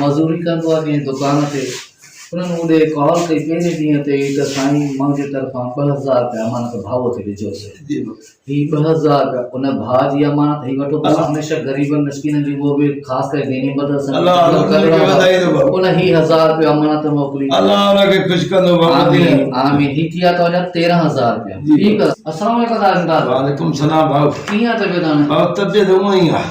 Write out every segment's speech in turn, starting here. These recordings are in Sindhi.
مزوري ڪندو آهي ڪنهن دڪان تي، انهن اوڏي ڪال ڪئي پهرين ڏينهن تي ئي ته سائين منهنجي طرفان ٻه هزار رپيا امانت ڀاء تي ڏجو سي. هي ٻه هزار رپيا ان ڀاء جي امانت هي وٺو بس هميشه غريبن مسڪينن جي اهو به خاص ڪري ديني مدرسن جي خدمت ڪندڙ آهي ان هي هزار رپيا امانت موڪلي آمين آمين هي ٿيا توهان جا تيرهن هزار رپيا ٺيڪ آهي السلام عليڪم تاجدار وعليڪم السلام ڀاء ڪيئن طبيعت هاڻي ڀاء طبيعت هونئن ئي آهي.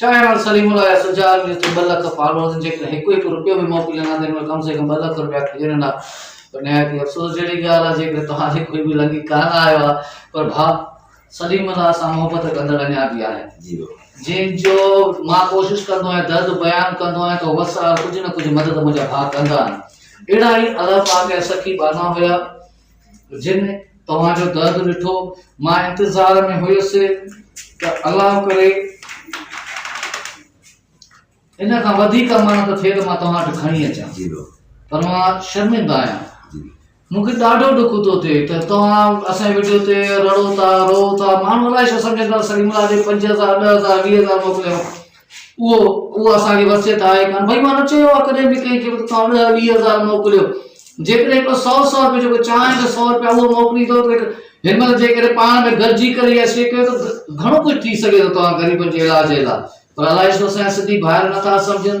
چانهه واري سليم الله جا سجا آدمي اتي ٻه لک فالوئرز ان جيڪڏهن هڪ هڪ روپيو به موڪلين ها ته هن وٽ ڪم سي ڪم ٻه لک روپيا کڄن هندا پر نهايت ئي افسوس جهڙي ڳالهه آهي جيڪڏهن توهان جي کوئي به لنگهي ڪانه آيو آهي پر ڀاء سليم الله سان محبت ڪندڙ اڃا به آهن جي ڀاء جن جو مان ڪوشش ڪندو آهيان درد بيان ڪندو آهيان ته وس آهي ڪجهه نه ڪجهه مدد منهنجا ڀاء ڪندا آهن اهڙا ئي الف آ ڪيا سخي ٻانها هيا جن توهان جو درد ڏٺو، مان انتظار ۾ هيس ته الله ڪري ان کان وڌيڪ امانت ٿئي ته مان توهان وٽ کڻي اچان جي بابا پر مان شرمنده آهيان جي مون کي ڏاڍو ڏک ٿو ٿئي ته توهان اسان ويڊيو تي رڙو ٿا رو ٿا ماڻهو الائي ڇا سمجهندا سليم الله جي پنج هزار ڏهه هزار ويهه هزار موڪليو اهو اهو اسان کي وصيت آهي ڪانه ڀئي مان نه چيو آهي ڪڏهن به ڪنهن کي ته توهان ڏهه ويهه هزار موڪليو جيڪڏهن هڪڙو سؤ سؤ رپيو جيڪو چانهن جو سؤ رپيا اهو موڪليندو ته هن مهل جيڪڏهن پاڻ ۾ گڏجي ڪري اها شي ڪيو ته گهڻو ڪجهه ٿي سگهي ٿو توهان غريبن جي علاج جي لاء پر الائي ڇو اسان جا سنڌي ڀائر نٿا سمجهن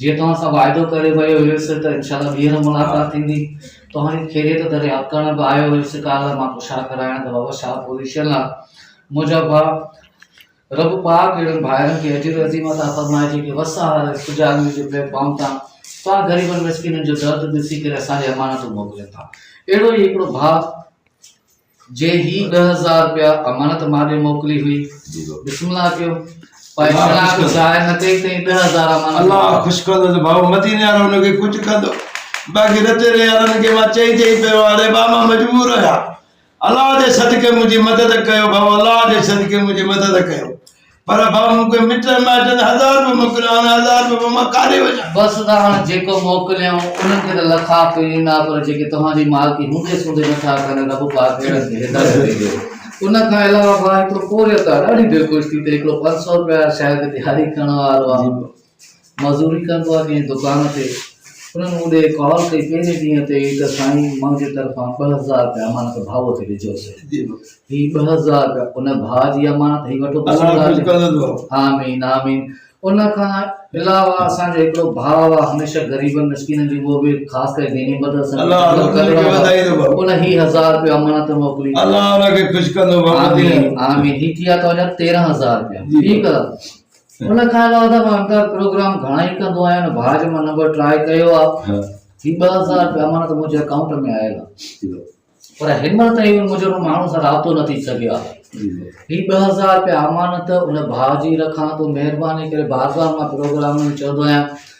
جيئن توهان سان واعدو ڪري ويو هيس ته انشاء الله ٻيهر ملاقات ٿيندي. توهان کي خيريت دريافت ڪرڻ به آيو هيس ڪالهه مان ڪشا ڪرائڻ ته بابا شاهه پوزيشن آ. منهنجا ڀاء رب پاڪ اهڙن ڀائرن کي اجر عظيم عطا فرمائي جيڪي وس آهر رزق جاڳني جي پليٽ فارم تان توهان غريبن مسڪينن جو درد ڏسي ڪري اسان ڏي امانتون موڪلين ٿا. اهڙو ئي هڪڙو ڀاء جي هي ڏهه هزار رپيا امانت مان ڏي موڪلي هئي بسم الله ڪيو پائي شناخت ظاهر نه ڪئي تئين ڏهه هزار امانت الله خوش ڪندو ته ڀائو مديني وارو هن کي ڪجهه ڪندو باقي رتي ري وارن کي مان چئي چئي پيو هاڻي ٻا مان مجبور هيا الله جي صدقي منهنجي مدد ڪيو ڀائو الله جي صدقي منهنجي مدد ڪيو پر ڀاء مون کي مٽن مائٽن هزار روپيا موڪليا ان هزار روپيا پوء مان ڪاڏي وڃان؟ بس ته هاڻ جيڪو موڪليائون انهن کي ته لکا پي ڏنا پر جيڪي توهان جي مالڪي هوندي سوندي نٿا ڪن رب پاڪ اهڙن کي هدايت ڏجي. ان کان علاوه ڀاء هڪڙو پورهيت آ ڏاڍي دلخوش ٿي ته هڪڙو پنج سؤ روپيا شايد ڏياري ڪرڻ وارو آ. مزوري ڪندو آ ڪنهن دڪان تي انهن مون ڏي ڪال ڪئي پهرين ڏينهن تي ئي ته سائين منهنجي طرفان ٻه هزار رپيا امانت ڀاء کي ڏجو سي هي ٻه هزار رپيا ان ڀاء جي امانت هي وٺو آمين آمين ان کان علاوه اسان جو هڪڙو ڀاء آ هميشه غريبن مسڪينن جي اهو به خاص ڪري ديني مدد سان ان هي هزار رپيا امانت موڪلي الله ان کي خوش ڪندو آمين آمين هي ٿيا تو 13000 رپيا ٺيڪ آ ان کان علاوه ته مان انڪار پروگرام گهڻا ئي ڪندو آهيان ۽ ڀاء جو مان نمبر ٽرائي ڪيو آهي ها هي ٻه هزار رپيا امانت منهنجي اڪائونٽ ۾ آيل آهي جي ڀاء پر هنمهل تائين ان منهنجو ان ماڻهو سان رابطو نه ٿي سگهيو آهي جي ڀاء هي ٻه هزار رپيا امانت ان ڀاء جي رکان ٿو مهرباني ڪري بار بار مان پروگرام ۾ چوندو آهيان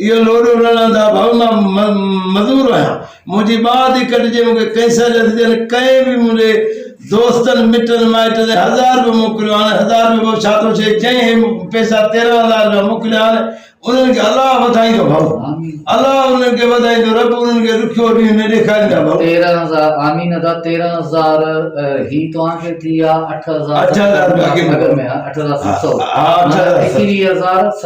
اهو لوڏو رڙڻ دا ڀؤ مان مزور آهيان. منهنجي ٻانهن ٿي ڪٽجي مون کي ڪئنسر جا ٿي ڏين ڪنهن به منهنجي دوستن مٽن مائٽن هي هزار به موڪليو هان هزار به ڀؤ ڇا ٿو ڇي جنهن هي پئسا تيرهن هزار رپيا موڪليا هان انهن کي الله وڌائيندو ڀؤ الله انهن کي وڌائيندو رب انهن کي رکيو ڏينهن نه ڏيکاريندا ڀؤ تيرهن هزار آمين ادا تيرهن هزار هي توهان کي ٿي آ اٺ هزار اٺ هزار باقي مگر ۾ آ اٺ هزار ست سو ها اٺ هزار ست سو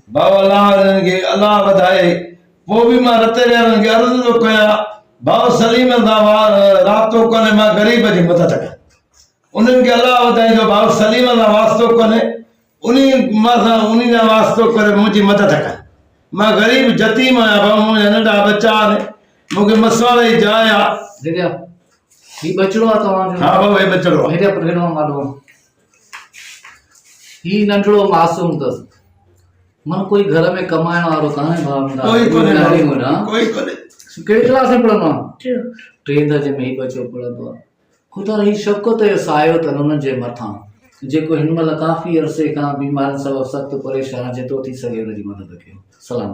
بابا لعل هنن کي الله وڌائي. پوء به مان رتي ريارن کي عرض ٿو ڪيان، ڀائو سليمن سان وار رابطو ڪونهي، مان غريب جي مدد ڪيان. انهن کي الله وڌائي جو ڀائو سليمن سان واسطو ڪونهي، انهي مان سان انهي سان واسطو ڪري منهنجي مدد ڪن. مان غريب يتيم آهيان ڀائو منهنجا ننڍا ٻچا آهن، مون کي مسواڙ جي جاء آهي. ڊيڊيا هي ٻچڙو آهي توهان جو؟ ها ڀائو هي ٻچڙو آهي. ڊيڊيا پرهيڙ مان مالهو آهي. هي ننڍڙو معصوم تس من ڪوئي گهر ۾ ڪمائڻ وارو ڪانهي ڀاوندا ڪوئي ڪونهي ڏاڍي مڙا ڪوئي ڪونهي ڪهڙي ڪلاس ۾ پڙهندو آهي ٽي درجي ۾ هي بچو پڙهندو آهي خدا هي شوڪت جو سايو تن انهن جي مٿان جيڪو هن مهل ڪافي عرصي کان بيمارين سبب سخت پريشان جيترو ٿي سگهي ان جي مدد ڪيو سلام